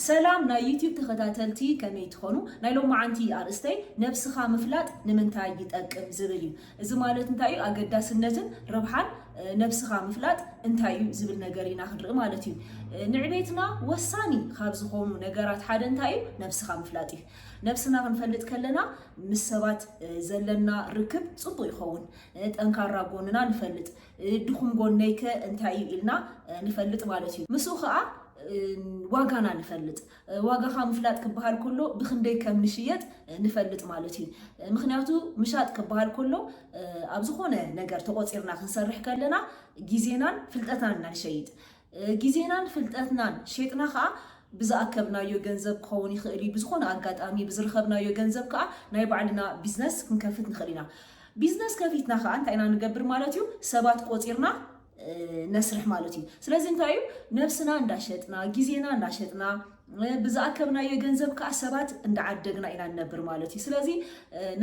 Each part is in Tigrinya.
ሰላም ናይ ዩቱብ ተኸታተልቲ ከመይ ትኾኑ ናይ ሎማዓንቲ ኣርእስተይ ነብስኻ ምፍላጥ ንምንታይ ይጠቅም ዝብል እዩ እዚ ማለት እንታይ እዩ ኣገዳስነትን ረብሓን ነብስኻ ምፍላጥ እንታይ እዩ ዝብል ነገር ኢና ክንርኢ ማለት እዩ ንዕቤትና ወሳኒ ካብ ዝኾኑ ነገራት ሓደ እንታይ እዩ ነብስኻ ምፍላጥ እዩ ነብስና ክንፈልጥ ከለና ምስ ሰባት ዘለና ርክብ ፅቡቅ ይኸውን ጠንካራ ጎንና ንፈልጥ ድኹም ጎነይ ከ እንታይ እዩ ኢልና ንፈልጥ ማለት እዩ። ምስኡ ከኣ ዋጋና ንፈልጥ። ዋጋኻ ምፍላጥ ክበሃል ከሎ ብክንደይ ከም ንሽየጥ ንፈልጥ ማለት እዩ። ምክንያቱ ምሻጥ ክበሃል ከሎ ኣብ ዝኾነ ነገር ተቆጺርና ክንሰርሕ ከለና ግዜናን ፍልጠትናን ኢና ንሸይጥ። ግዜናን ፍልጠትናን ሼጥና ከኣ ብዝኣከብናዮ ገንዘብ ክኸውን ይኽእል እዩ፣ ብዝኾነ ኣጋጣሚ ብዝርኸብናዮ ገንዘብ ከኣ ናይ ባዕልና ቢዝነስ ክንከፍት ንኽእል ኢና። ቢዝነስ ከፊትና ከኣ እንታይ ኢና ንገብር ማለት እዩ፣ ሰባት ቆጺርና ነስርሕ ማለት እዩ። ስለዚ እንታይ እዩ ነብስና እንዳሸጥና ግዜና እንዳሸጥና ብዝኣከብናዮ ገንዘብ ከኣ ሰባት እንዳዓደግና ኢና ንነብር ማለት እዩ። ስለዚ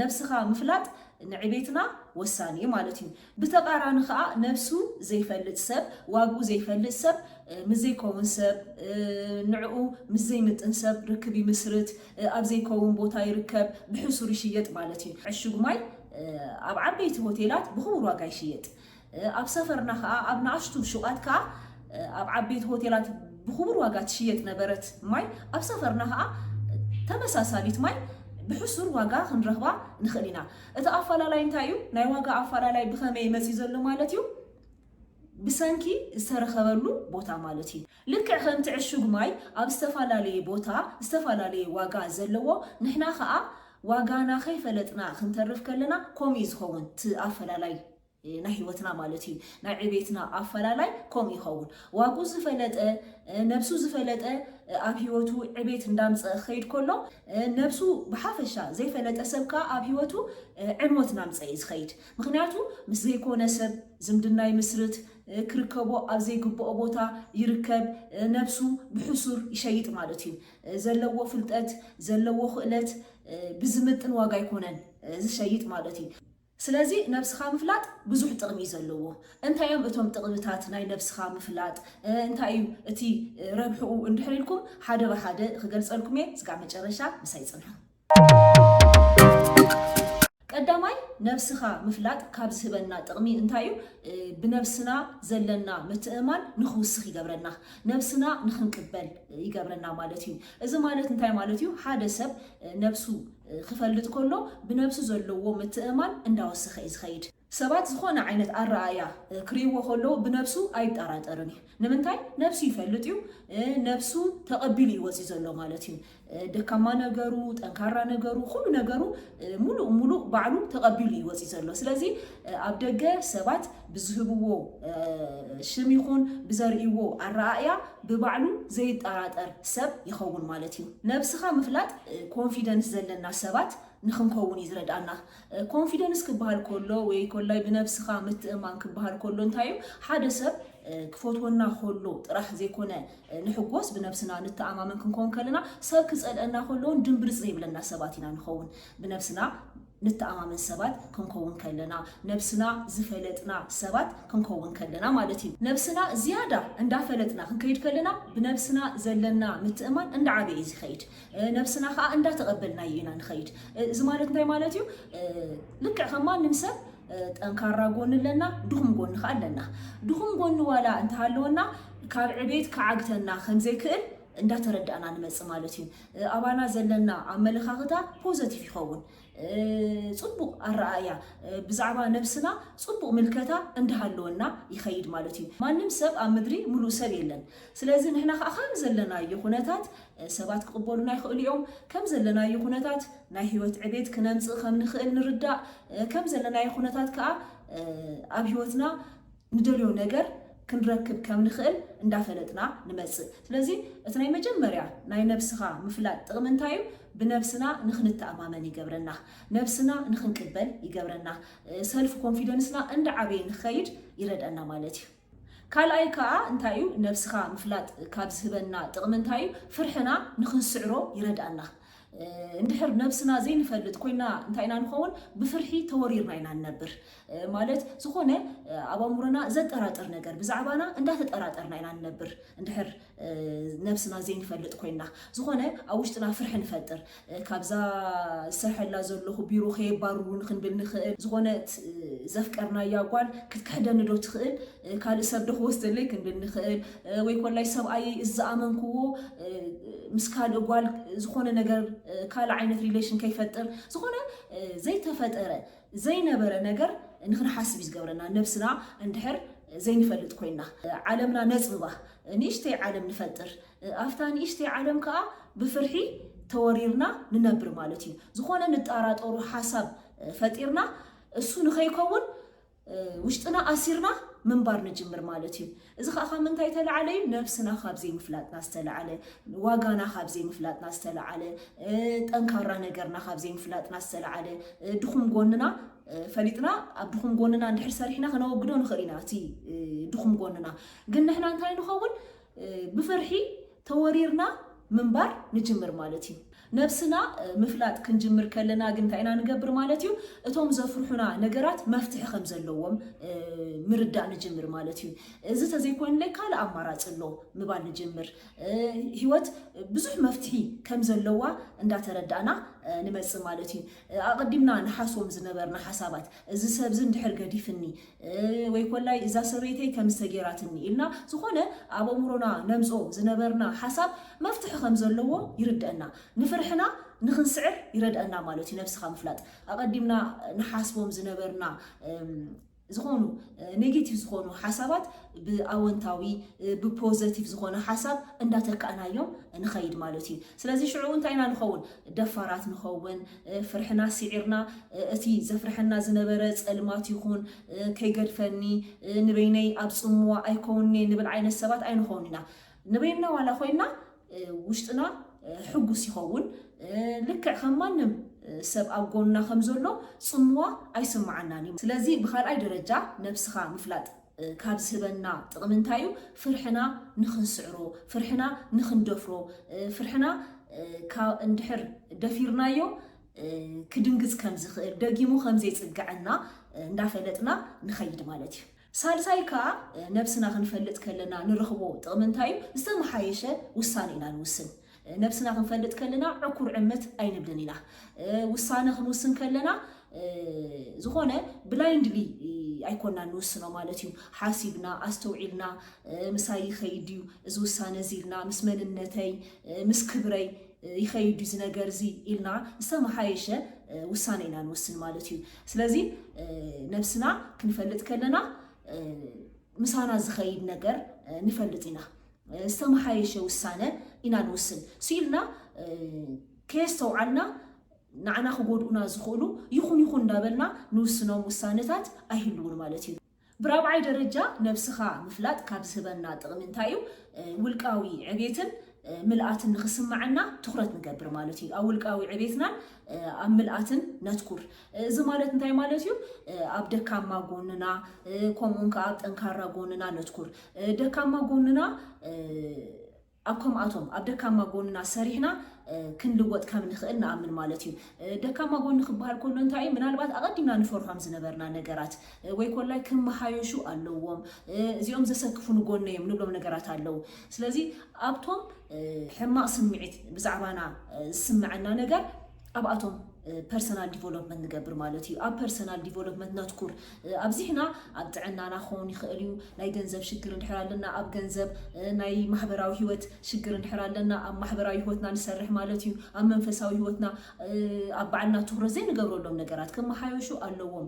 ነብስኻ ምፍላጥ ንዕቤትና ወሳኒ እዩ ማለት እዩ። ብተቃራኒ ከኣ ነብሱ ዘይፈልጥ ሰብ፣ ዋግኡ ዘይፈልጥ ሰብ ምስ ዘይከውን ሰብ፣ ንዕኡ ምስ ዘይምጥን ሰብ ርክብ ይምስርት፣ ኣብ ዘይከውን ቦታ ይርከብ፣ ብሕሱር ይሽየጥ ማለት እዩ። ዕሹግ ማይ ኣብ ዓበይቲ ሆቴላት ብኽቡር ዋጋ ይሽየጥ። ኣብ ሰፈርና ከኣ ኣብ ንኣሽቱ ሹቓት ከኣ ኣብ ዓበይቲ ሆቴላት ብኽቡር ዋጋ ትሽየጥ ነበረት ማይ ኣብ ሰፈርና ከኣ ተመሳሳሊት ማይ ብሕሱር ዋጋ ክንረኽባ ንኽእል ኢና። እቲ ኣፋላላይ እንታይ እዩ? ናይ ዋጋ ኣፋላላይ ብኸመይ መፅዩ ዘሎ ማለት እዩ? ብሰንኪ ዝተረኸበሉ ቦታ ማለት እዩ። ልክዕ ከምቲ ዕሹግ ማይ ኣብ ዝተፋላለየ ቦታ ዝተፋላለየ ዋጋ ዘለዎ ንሕና ከዓ ዋጋና ከይፈለጥና ክንተርፍ ከለና ከምኡ እዩ ዝኸውን እቲ ኣፈላላይ ናይ ህይወትና ማለት እዩ ናይ ዕቤትና ኣፈላላይ ከምኡ ይኸውን ዋግኡ ዝፈለጠ ነብሱ ዝፈለጠ ኣብ ህይወቱ ዕቤት እንዳምፀ ክኸይድ ከሎ ነብሱ ብሓፈሻ ዘይፈለጠ ሰብ ከዓ ኣብ ህይወቱ ዕንወት እናምፀ እዩ ዝኸይድ ምክንያቱ ምስ ዘይኮነ ሰብ ዝምድና ይምስርት ክርከቦ ኣብ ዘይግብኦ ቦታ ይርከብ ነብሱ ብሕሱር ይሸይጥ ማለት እዩ ዘለዎ ፍልጠት ዘለዎ ክእለት ብዝምጥን ዋጋ ኣይኮነን ዝሸይጥ ማለት እዩ ስለዚ ነብስኻ ምፍላጥ ብዙሕ ጥቕሚ እዩ ዘለዎ። እንታይ እዮም እቶም ጥቕምታት ናይ ነብስኻ ምፍላጥ፣ እንታይ እዩ እቲ ረብሕኡ እንድሕር ኢልኩም ሓደ ብሓደ ክገልጸልኩም እየ እስካብ መጨረሻ ምሳይ ጽንሑ። ቀዳማይ ነብስኻ ምፍላጥ ካብ ዝህበና ጥቕሚ እንታይ እዩ? ብነብስና ዘለና ምትእምማን ንኽውስኽ ይገብረና፣ ነብስና ንኽንቅበል ይገብረና ማለት እዩ። እዚ ማለት እንታይ ማለት እዩ? ሓደ ሰብ ነብሱ ክፈልጥ ከሎ ብነብሱ ዘለዎ ምትእምማን እንዳወሰኸ እዩ ዝኸይድ። ሰባት ዝኾነ ዓይነት ኣረኣእያ ክርእይዎ ከለዉ ብነብሱ ኣይጣራጠርን እዩ። ንምንታይ? ነብሱ ይፈልጥ እዩ። ነብሱ ተቐቢሉ እዩ ወጺኡ ዘሎ ማለት እዩ። ደካማ ነገሩ፣ ጠንካራ ነገሩ፣ ኩሉ ነገሩ ሙሉእ ሙሉእ ባዕሉ ተቐቢሉ እዩ ወጺኡ ዘሎ። ስለዚ ኣብ ደገ ሰባት ብዝህብዎ ሽም ይኹን ብዘርእይዎ ኣረኣእያ ብባዕሉ ዘይጠራጠር ሰብ ይኸውን ማለት እዩ። ነብስኻ ምፍላጥ ኮንፊደንስ ዘለና ሰባት ንኽንከውን እዩ ዝረድኣና። ኮንፊደንስ ክበሃል ከሎ ወይ ኮላይ ብነብስኻ ምትእምማን ክበሃል ከሎ እንታይ እዩ? ሓደ ሰብ ክፈትወና ከሎ ጥራሕ ዘይኮነ ንሕጎስ ብነብስና ንተኣማመን ክንከውን ከለና ሰብ ክጸልኣና ከሎ እውን ድምብርጽ ዘይብለና ሰባት ኢና ንኸውን። ብነብስና ንተኣማመን ሰባት ክንከውን ከለና፣ ነብስና ዝፈለጥና ሰባት ክንከውን ከለና ማለት እዩ። ነብስና ዝያዳ እንዳፈለጥና ክንከይድ ከለና ብነብስና ዘለና ምትእምማን እንዳዓበየ እዩ ዝኸይድ። ነብስና ከኣ እንዳተቐበልናዮ ኢና ንኸይድ። እዚ ማለት እንታይ ማለት እዩ? ልክዕ ከም ማንም ሰብ ጠንካራ ጎኒ ኣለና፣ ድኹም ጎኒ ከኣ ኣለና። ድኹም ጎኒ ዋላ እንተሃለወና ካብ ዕቤት ክዓግተና ከምዘይክእል እንዳተረዳእና ንመጽእ ማለት እዩ። ኣባና ዘለና ኣመለኻኽታ ፖዘቲቭ ይኸውን። ጽቡቕ ኣረኣእያ ብዛዕባ ነብስና ጽቡቕ ምልከታ እንዳሃለወና ይኸይድ ማለት እዩ። ማንም ሰብ ኣብ ምድሪ ምሉእ ሰብ የለን። ስለዚ ንሕና ከኣ ከም ዘለናዮ ኩነታት ሰባት ክቕበሉና ይኽእሉ እዮም። ከም ዘለናዮ ኩነታት ናይ ህይወት ዕቤት ክነምጽእ ከም ንኽእል ንርዳእ። ከም ዘለናዮ ኩነታት ከኣ ኣብ ህይወትና ንደልዮ ነገር ክንረክብ ከም ንኽእል እንዳፈለጥና ንመጽእ። ስለዚ እቲ ናይ መጀመርያ ናይ ነብስኻ ምፍላጥ ጥቕሚ እንታይ እዩ? ብነብስና ንኽንተኣማመን ይገብረና። ነብስና ንኽንቅበል ይገብረና። ሰልፍ ኮንፊደንስና እንዳዓበየ ንኽኸይድ ይረድኣና ማለት እዩ። ካልኣይ ከኣ እንታይ እዩ ነብስኻ ምፍላጥ ካብ ዝህበና ጥቕሚ እንታይ እዩ? ፍርሕና ንኽንስዕሮ ይረድኣና። እንድሕር ነብስና ዘይንፈልጥ ኮይና እንታይ ኢና ንኸውን? ብፍርሒ ተወሪርና ኢና ንነብር። ማለት ዝኾነ ኣብ ኣእምሮና ዘጠራጥር ነገር ብዛዕባና እንዳተጠራጠርና ኢና ንነብር እንድሕር ነብስና ዘይንፈልጥ ኮይና። ዝኾነ ኣብ ውሽጥና ፍርሒ ንፈጥር። ካብዛ ዝሰርሐላ ዘለኹ ቢሮ ከየባርሩኒ ክንብል ንኽእል፣ ዝኾነት ዘፍቀርናያ ጓል ክትክሕደኒ ዶ ትኽእል? ካልእ ሰብ ዶ ክወስደለይ ክንብል ንኽእል፣ ወይ ኮላይ ሰብኣየይ እዚ ዝኣመንክዎ ምስ ካልእ ጓል ዝኾነ ነገር ካልእ ዓይነት ሪሌሽን ከይፈጥር ዝኾነ ዘይተፈጠረ ዘይነበረ ነገር ንክንሓስብ እዩ ዝገብረና ነብስና እንድሕር ዘይንፈልጥ ኮይና ዓለምና ነጽብባ ንእሽተይ ዓለም ንፈጥር ኣብታ ንእሽተይ ዓለም ከዓ ብፍርሒ ተወሪርና ንነብር ማለት እዩ ዝኾነ ንጣራጠሩ ሓሳብ ፈጢርና እሱ ንኸይከውን ውሽጥና ኣሲርና ምንባር ንጅምር ማለት እዩ። እዚ ኸኣ ካብ ምንታይ እተላዕለ እዩ? ነብስና ካብ ዘይምፍላጥና ዝተላዕለ፣ ዋጋና ካብ ዘይምፍላጥና ዝተላዕለ፣ ጠንካራ ነገርና ካብ ዘይምፍላጥና ዝተላዕለ፣ ድኹም ጎንና ፈሊጥና ኣብ ድኹም ጎንና እንድሕር ሰሪሕና ከነወግዶ ንኽእል ኢና እቲ ድኹም ጎንና ግን ንሕና እንታይ ንኸውን ብፍርሒ ተወሪርና ምንባር ንጅምር ማለት እዩ። ነብስና ምፍላጥ ክንጅምር ከለና ግን እንታይ ኢና ንገብር ማለት እዩ፣ እቶም ዘፍርሑና ነገራት መፍትሒ ከም ዘለዎም ምርዳእ ንጅምር ማለት እዩ። እዚ ተዘይኮይኑለይ ካልእ ኣማራጺ ኣሎ ምባል ንጅምር። ህይወት ብዙሕ መፍትሒ ከም ዘለዋ እንዳተረዳእና ንመጽእ ማለት እዩ። ኣቐዲምና ንሓስቦም ዝነበርና ሓሳባት፣ እዚ ሰብዚ እንድሕር ገዲፍኒ፣ ወይ ኮላይ እዛ ሰበይተይ ከምዚ ተጌራትኒ ኢልና ዝኾነ ኣብ ኣእምሮና ነምጽኦ ዝነበርና ሓሳብ መፍትሒ ከም ዘለዎ ይርደእና። ንፍርሕና ንክንስዕር ይረድኣና ማለት እዩ ነብስኻ ምፍላጥ። ኣቐዲምና ንሓስቦም ዝነበርና ዝኾኑ ኔጌቲቭ ዝኾኑ ሓሳባት ብኣወንታዊ ብፖዘቲቭ ዝኾነ ሓሳብ እንዳተካእናዮም ንኸይድ ማለት እዩ። ስለዚ ሽዑ እንታይ ኢና ንኸውን? ደፋራት ንኸውን። ፍርሕና ሲዒርና እቲ ዘፍርሐና ዝነበረ ጸልማት ይኹን ከይገድፈኒ ንበይነይ ኣብ ጽምዋ ኣይኮውንኔ ንብል ዓይነት ሰባት ኣይንኾውን ኢና። ንበይንና ዋላ ኮይንና ውሽጥና ሕጉስ ይኸውን። ልክዕ ከም ማንም ሰብ ኣብ ጎንና ከም ዘሎ ጽምዋ ኣይስምዓናን እዩ። ስለዚ ብካልኣይ ደረጃ ነብስኻ ምፍላጥ። ካብ ዝህበና ጥቕሚ እንታይ እዩ? ፍርሕና ንኽንስዕሮ፣ ፍርሕና ንኽንደፍሮ፣ ፍርሕና እንድሕር ደፊርናዮ ክድንግፅ ከም ዝኽእል፣ ደጊሙ ከም ዘይፅገዐና እንዳፈለጥና ንኸይድ ማለት እዩ። ሳልሳይ ከዓ ነብስና ክንፈልጥ ከለና ንረኽቦ ጥቕሚ እንታይ እዩ? ዝተመሓየሸ ውሳነ ኢና ንውስን። ነብስና ክንፈልጥ ከለና ዕኩር ዕምት ኣይንብልን ኢና። ውሳነ ክንውስን ከለና ዝኾነ ብላይንድሊ ኣይኮናን ንውስኖ ማለት እዩ። ሓሲብና ኣስተውዒልና ምሳይ ይኸይድ ድዩ እዚ ውሳነ እዚ ኢልና ምስ መንነተይ ምስ ክብረይ ይኸይድ ድዩ እዚ ነገር እዚ ኢልና ዝተመሓየሸ ውሳነ ኢና ንውስን ማለት እዩ። ስለዚ ነብስና ክንፈልጥ ከለና ምሳና ዝኸይድ ነገር ንፈልጥ ኢና። ዝተመሓየሸ ውሳነ ኢና ንውስን ስኢልና ከየስተውዓልና ንዓና ክጎድኡና ዝኽእሉ ይኹን ይኹን እንዳበልና ንውስኖም ውሳነታት ኣይህልውን ማለት እዩ። ብራብዓይ ደረጃ ነብስኻ ምፍላጥ ካብ ዝህበና ጥቕሚ እንታይ እዩ? ውልቃዊ ዕቤትን ምልኣትን ንኽስመዐና ትኹረት ንገብር ማለት እዩ። ኣብ ውልቃዊ ዕቤትናን ኣብ ምልኣትን ነትኩር። እዚ ማለት እንታይ ማለት እዩ? ኣብ ደካማ ጎንና ከምኡውን ከዓ ኣብ ጠንካራ ጎንና ነትኩር። ደካማ ጎንና ኣብ ከምኣቶም ኣብ ደካማ ጎንና ሰሪሕና ክንልወጥ ከም ንኽእል ንኣምን ማለት እዩ። ደካማ ጎኒ ክበሃል ከሎ እንታይ እዩ? ምናልባት ኣቐዲምና ንፈርሖም ዝነበርና ነገራት ወይ ኮላይ ክመሃየሹ ኣለዎም፣ እዚኦም ዘሰክፉኒ ጎነ እዮም ንብሎም ነገራት ኣለዉ። ስለዚ ኣብቶም ሕማቕ ስምዒት ብዛዕባና ዝስመዐና ነገር ኣብኣቶም ፐርሰናል ዲቨሎፕመንት ንገብር ማለት እዩ። ኣብ ፐርሰናል ዲቨሎፕመንት ነትኩር ኣብዚሕና ኣብ ጥዕናና ክኸውን ይኽእል እዩ፣ ናይ ገንዘብ ሽግር እንድሕር ኣለና ኣብ ገንዘብ፣ ናይ ማሕበራዊ ህይወት ሽግር እንድሕር ኣለና ኣብ ማሕበራዊ ህይወትና ንሰርሕ ማለት እዩ። ኣብ መንፈሳዊ ህይወትና ኣብ ባዕልና ትኹረት ዘይንገብረሎም ነገራት ክመሓየሹ ኣለዎም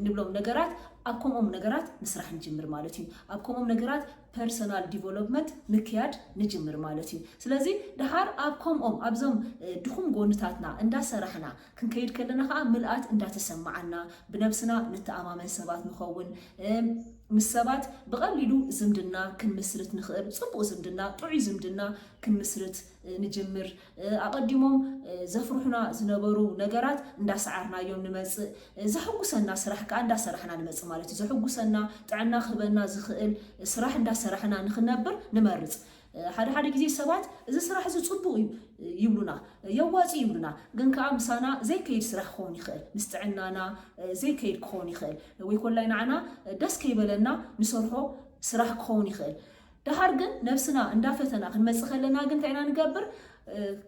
ንብሎም ነገራት ኣብ ከምኦም ነገራት ምስራሕ ንጅምር ማለት እዩ። ኣብ ከምኦም ነገራት ፐርሰናል ዲቨሎፕመት ምክያድ ንጅምር ማለት እዩ። ስለዚ ደሓር ኣብ ከምኦም ኣብዞም ድኹም ጎንታትና እንዳሰራሕና ክንከይድ ከለና ከዓ ምልኣት እንዳተሰማዓና ብነብስና ንተኣማመን ሰባት ንኸውን፣ ምስ ሰባት ብቐሊሉ ዝምድና ክንምስርት ንኽእል፣ ፅቡቕ ዝምድና ጥዑይ ዝምድና ክንምስርት ንጅምር፣ ኣቐዲሞም ዘፍርሑና ዝነበሩ ነገራት እንዳሰዓርናዮም ንመጽእ፣ ዘሕጉሰና ስራሕ ከኣ እንዳሰራሕና ንመጽእ ማለት እዩ። ዘሕጉሰና፣ ጥዕና ክህበና ዝኽእል ስራሕ እንዳሰራሕና ንኽንነብር ንመርጽ። ሓደ ሓደ ግዜ ሰባት እዚ ስራሕ እዚ ጽቡቕ እዩ ይብሉና፣ የዋጽእ ይብሉና፣ ግን ከኣ ምሳና ዘይከይድ ስራሕ ክኸውን ይኽእል፣ ምስ ጥዕናና ዘይከይድ ክኸውን ይኽእል፣ ወይ ኮላይ ንዓና ደስ ከይበለና ንሰርሖ ስራሕ ክኸውን ይኽእል። ደሓር ግን ነብስና እንዳፈተና ክንመጽእ ከለና ግን እንታይ ኢና ንገብር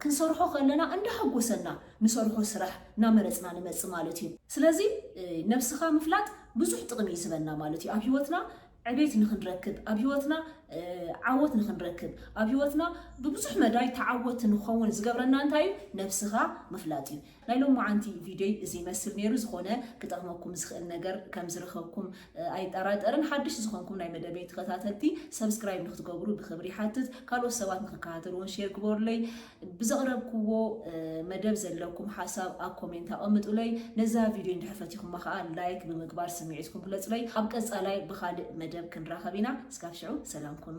ክንሰርሖ ከለና እንዳሐጎሰና ንሰርሖ ስራሕ እናመረጽና ንመጽእ ማለት እዩ። ስለዚ ነብስኻ ምፍላጥ ብዙሕ ጥቕሚ እዩ ዝህበና ማለት እዩ። ኣብ ሂወትና ዕቤት ንክንረክብ፣ ኣብ ሂወትና ዓወት ንክንረክብ፣ ኣብ ሂወትና ብብዙሕ መዳይ ተዓወቲ ንክኸውን ዝገብረና እንታይ እዩ ነብስኻ ምፍላጥ እዩ። ናይ ሎማዓንቲ ቪድዮይ እዚ ይመስል ነይሩ ዝኾነ ክጠቕመኩም ዝኽእል ነገር ከም ዝረኸብኩም ኣይጠራጠርን ሓድሽ ዝኾንኩም ናይ መደበይ ተኸታተልቲ ሰብስክራይብ ንክትገብሩ ብኽብሪ ይሓትት ካልኦት ሰባት ንክከታተልዎን ሼር ግበሩለይ ብዘቕረብክዎ መደብ ዘለኩም ሓሳብ ኣብ ኮሜንት ኣቐምጡለይ ነዛ ቪድዮ እንድሕር ፈቲኹማ ከዓ ላይክ ብምግባር ስምዒትኩም ግለጹለይ ኣብ ቀጻላይ ብኻልእ መደብ ክንራኸብ ኢና እስካብ ሽዑ ሰላም ኩኑ